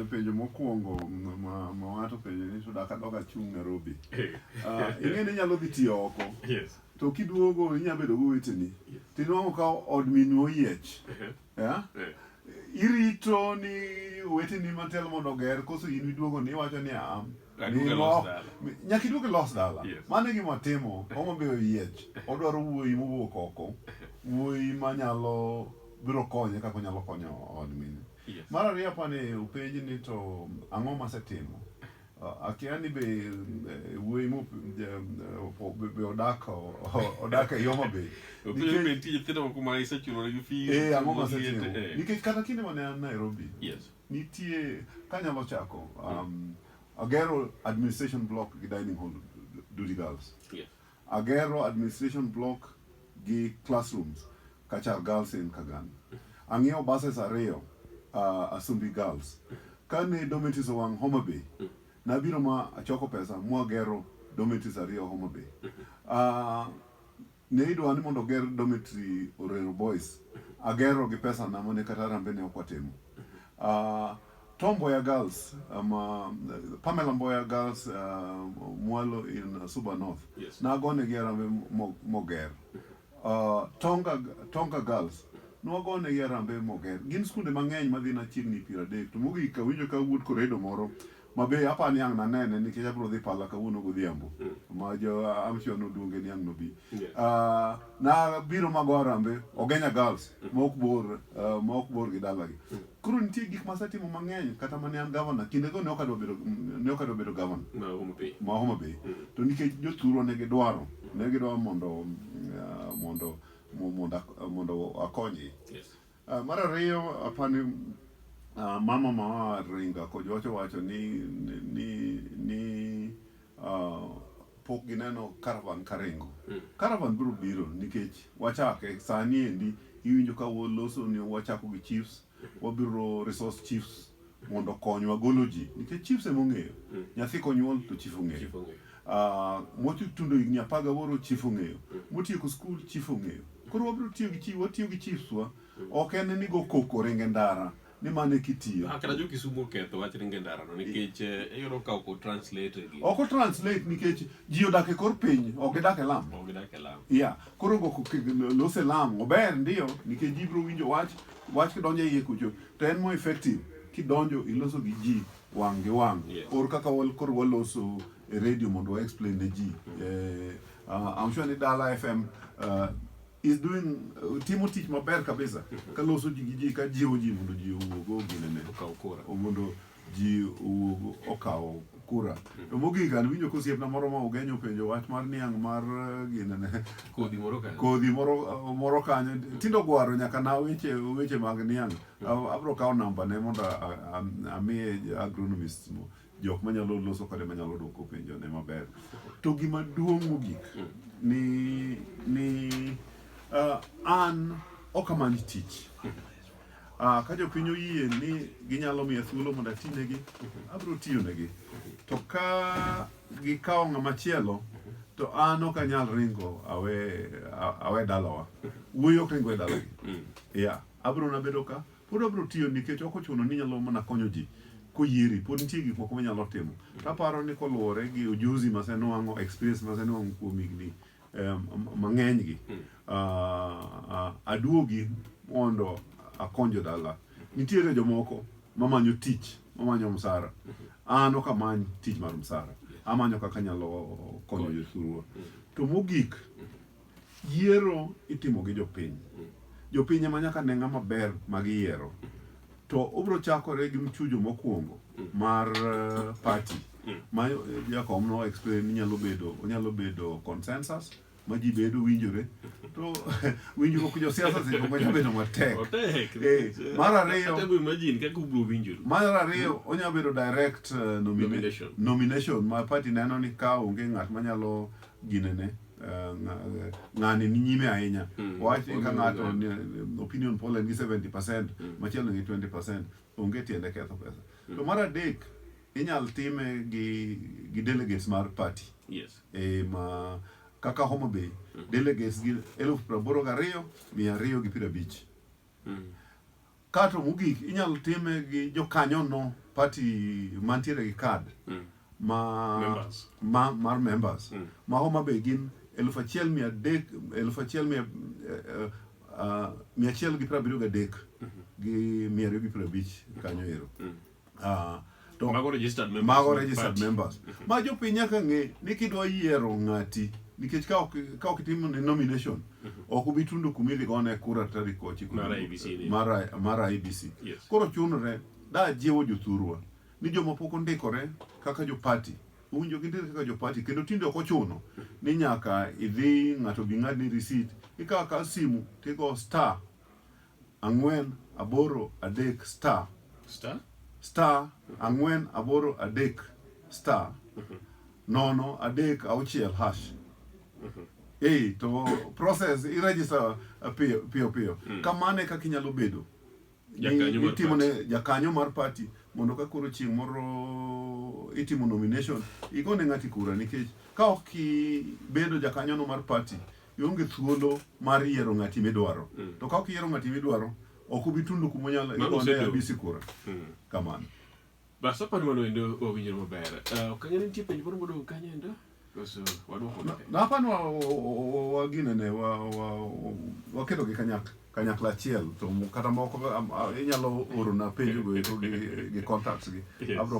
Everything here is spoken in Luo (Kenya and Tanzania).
penjo mokwongo mawato penjo ni suda kadok achung' Nairobi. Ah, ing'e ni inyalo dhi tiyo oko. To kiduogo inyalo bedo gi weteni. To inwang'o ka od minwa oyiech. Yeah? Eh. Irito ni weteni matel mondo oger koso in iduogo ni iwacho ni am. Aduke lost dala. Nyaka iduke lost dala. Yes. Mano e gima watimo, Homa Bay oyiech. Odwaro wuoyi mowuok oko. Wuoyi manyalo biro konye kaka onyalo konyo od min. Yes. Mar ariyo apani openj ni to ang'o masetimo? Uh, akia ni be eh, wuoyi mo eh, opo- be be odak o- o- odak e Homa Bay. Openj Nikech- be nitie nyithindo moko ma isechulogi fees, Eh, ang'o ma moseti- asetimo? eh. Nikech kata kinde mane an Nairobi, Yes. Nitie kanyalo chako um, agero administration block gi dining hall duty girls yes. agero administration block gi classrooms kachar girls in kagan ang'iewo buses ariyo uh, asumbi girls kane dometis owang' homa bay nabiro ma achoko pesa mwagero dometis ariyo homa bay uh, Ne idwa ni mondo oger dormitory Orero Boys. Agero gi pesa na mane kata arambe ne ok watimo. Uh, ah, Tom Mboya Girls, um, uh, Pamela Mboya Girls uh, Mwalo in uh, Suba North. Yes. Nagone gi arambe moger. Uh, Tonga, Tonga Girls nwagone gi arambe moger. Gin skunde mang'eny madhi na chiegni piero adek. To mogik awinjo ka wuod koredo moro ma be apa ni ang' nanene nikech abiro dhi pala kawuono godhiambo mm. ma jo amshon oduonge ni ang' nobi yeah. uh, na biro mago arambe ogenya girls mm. ma ok bor uh, ma ok bor gi dalagi mm. koro nitie gik ma asetimo mang'eny kata mane an gavana kindego ne ok adwa bedo ne ok adwa bedo gavana ma Homa Bay mm. to nikech jothurwa ne gidwaro ne gidwaro mondo uh, mondo mondo mondo akonyi yes. Uh, mar ariyo apani uh, mama ma Ringa Kojuacho wacho ni, ni, ni, ni uh, pok gineno caravan karingo mm. caravan biro biro nikech wachake sani endi iwinjo ka waloso ni wachako gi chiefs wabiro resource chiefs mondo okonywa golo ji nikech chiefs ema ong'eyo mm. nyathi konyuol to chief ong'eyo ah, motundo higni apar gaboro chief ong'eyo mm. motieko skul chief ong'eyo koro wabiro tiyo gi chief watiyo gi chiefs wa mm. ok en ni go koko ringe ndara ni mane kitiyo ah, kata jo kisumu oketho wach ringe ndara no nikech eh, iyudo ka ok translate gi ok translate nikech ji odak e kor piny ok gidak e lam ok gidak e lam ya koro go lose lam ober ndio nikech ji biro winjo wach wach kidonjo iye kucho to en more effective kidonjo iloso gi ji wang' gi wang' yes. or kaka wal, koro waloso e radio mondo wa explain ne ji mm. eh, uh, I'm sure ni Dala FM uh, eh, is doing uh, timo tich maber kabisa kaloso ji gi ji ka jiwo ji mondo ji owuog oginene mondo ji owuog okawo kura to mogik an winjo kosiepna moro ma ugenyo openjo wach mar niang' mar eh, ginene kodhi moro kanyo kodhi moro eh, moro kanyo tindo gwaro nyaka na weche weche mag niang' A- abro kawo namba ne mondo a- a- a- amiye agronomist mo- jok manyalo loso kode manyalo dwoko penjo ne maber to gima duong' mogik ni ni ah, an ok amany tich Ah, ka jopiny oyie ni ginyalo miya thuolo mondo atinegi, abiro tiyonegi. To ka gikawo ng'ama chielo, to an ok anyal ringo awe, a- awe dalawa. Wuoyi ok ringo e dalagi. Yeah, abiro na bedo ka, pod abiro tiyo nikech ok ochuno ni inyalo mana konyo ji koyieri, pod nitie gik moko minyalo timo. To aparo ni koluwore gi ujuzi masenwang'o, experience masenwang'o kuom higni mang'enygi aduogi mondo akonjo dala. Nitiere jomoko mamanyo tich, mamanyo msara. An ok amany tich mar msara, amanyo kaka anyalo konyo jothurwa. To mogik, yiero itimo gi jopiny. Jopiny ema nyaka ne ng'ama ber ma giyiero. to obiro chakore gi mchujo mokwongo mm. mar uh, party mm. ma eh, jakom no explain inyalo bedo onyalo bedo consensus ma ji bedo winjore to winjruok josiasa seche moko nyalo bedo matek eh, mar ariyo mar ariyo mm. onyalo bedo direct uh, nomination, nomination ma party neno ni ka onge ng'at manyalo ginene eh, nga- ng'ani ni nyime ahinya Mm. wach ni ka Oduogo ng'ato ahinya. ni- opinion poll en gi 70 percent Mm. machielo gi 20 percent onge tiende ketho pesa to mar adek inyal time gi gi delegates mar party yes e ma kaka Homa Bay delegates gi eluf praboro gariyo mia ariyo gi piero abich Mm. Kato mogik inyalo time gi jokanyo no party mantiere gi card mm. ma members. ma mar members mm. ma Homa Bay gin elfu achiel mia adek elfu achiel mia uh, uh, mia achiel gi piero abiriyo gi adek mm-hmm. gi mia ariyo gi piero abich kanyo ero mm. uh, to mago registered members, mago registered members. ma jopiny nyaka ng'e ni kidwa yiero ng'ati nikech ka ok itimo ne nomination mhm. ok ubi tundo kuma idhi gone kura tarik ochiko mar IBC koro chunore da jiwo jothurwa ni joma pok ondikore kaka jopati uwinjo gi ndiri kaka jopati kendo tinde ok ochuno ni nyaka idhi ng'ato bi ng'adni risit ikawo ka simu tigo star ang'wen aboro adek star Star? star ang'wen aboro adek star nono adek auchiel hash ei to process iregister uh, piyo piyo, piyo. kamano e kaka inyalo bedo ni- Jakanyo mar itimo ne jakanyo mar party mondo ka koro chieng' moro itimo nomination igone ng'ati kura nikech ka ok ibedo jakanyono mar party Ionge thuolo mar yiero ng'ati midwaro. Mm. To ka ok iyiero ng'ati midwaro, ok ubi tundo kuma unyalo igone abisi kura. Mm. Kamano. Bas apani mano endo owinjore maber. Eh, ok ang'e ni nitie penjo moro modong' kanyo endo? Koso wadwoko ne? Napani waginene waketo gi kanyakla kanyakla achiel to kata moko inyalo orona penjo go gi contacts gi abro